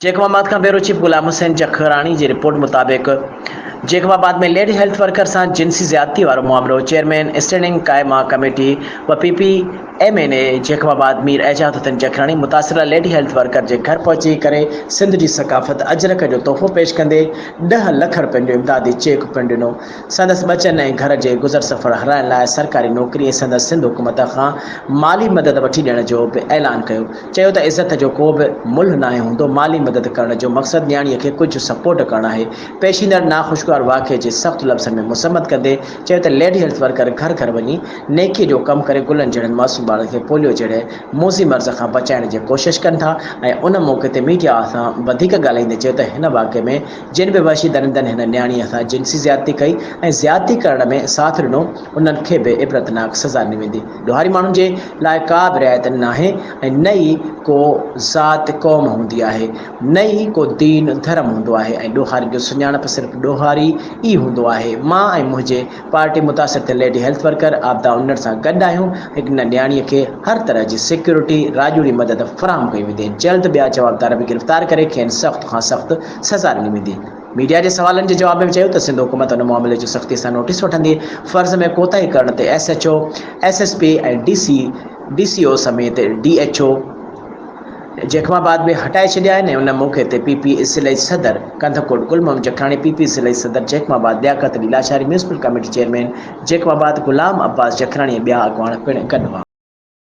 Jacob آباد کان bureau chief Ghulam Hussain Jakhrani جي رپورٽ مطابق Jacobabad ۾ lady health worker سان جنسي زيادتي وارو معاملو چيئرمين اسٽينڊنگ قائمه ڪميٽي و P P M N A Jacobabad Mir Ejaz Hussain Jakhrani متاثره ليڊي هيلٿ ورڪر جي گهر پهچي ڪري سنڌ جي ثقافت اجرڪ جو تحفو پيش ڪندي ڏهه لک رپين جو امدادي چيڪ پڻ ڏنو سندس ٻچن ۽ گهر جي گذر سفر هلائڻ لاء سرڪاري نوڪري ۽ سندس سنڌ حڪومت کان مالي مدد وٺي ڏيڻ جو به اعلان ڪيو چيو ته عزت جو ڪو به ملهه ناهي هوندو، مالي مدد ڪرڻ جو مقصد نياڻي کي ڪجهه سپورٽ ڪرڻ آهي، پيشيندڙ ناخوشگوار واقعي جي سخت لفظن ۾ مذمت ڪندي چيو ته ليڊي هيلٿ ورڪر گهر گهر وڃي نيڪي جو ڪم ڪري گلن جهڙن معصوم ٻارن کي پوليو جهڙي موذي مرض کان بچائڻ جي ڪوشش ڪن ٿا ۽ ان موقعي تي ميڊيا سان وڌيڪ ڳالهائيندي چيو ته هن واقعي ۾ جن به وحشي درندن هن نياڻي سان جنسي زيادتي ڪئي ۽ زيادتي ڪرڻ ۾ ساٿ ڏنو انهن کي به عبرتناڪ سزا ڏني ويندي. ڏوهاري ماڻهن جي لاء ڪا به رعايت ناهي ۽ نه ئي ڪو ذات قوم هوندي آهي نه ئي ڪو دين ڌرم هوندو آهي ۽ ڏوهارين جو سڃاڻپ صرف ڏوهاري ئي هوندو آهي مان ۽ منهنجي پارٽي متاثر ٿيل lady health worker Abida Unar سان گڏ آهيون ۽ ان نياڻي کي هر طرح جي سيڪيورٽي راڄوڙي مدد فراهم ڪئي ويندي جلد ٻيا جوابدار به گرفتار ڪري کين سخت کان سخت سزا ڏني ويندي. ميڊيا جي سوالن جي جواب ۾ چيو ته سنڌ حڪومت ان معاملي جو سختي سان نوٽيس وٺندي، فرض ۾ ڪوتاهي ڪرڻ تي S H O, S S P ۽ D C, D C O سميت D H O Jacobabad به هٽائي ڇڏيا آهن ۽ ان موقعي تي پي پي ضلعي صدر ڪنڌڪوٽ گل محمد جکراڻي، پي پي ضلعي صدر Jacobabad Liaquat Ali Lashari, municipal committee chairman Jacobabad Ghulam Abbas Jakhrani ۽ ٻيا اڳواڻ پڻ گڏ هئا.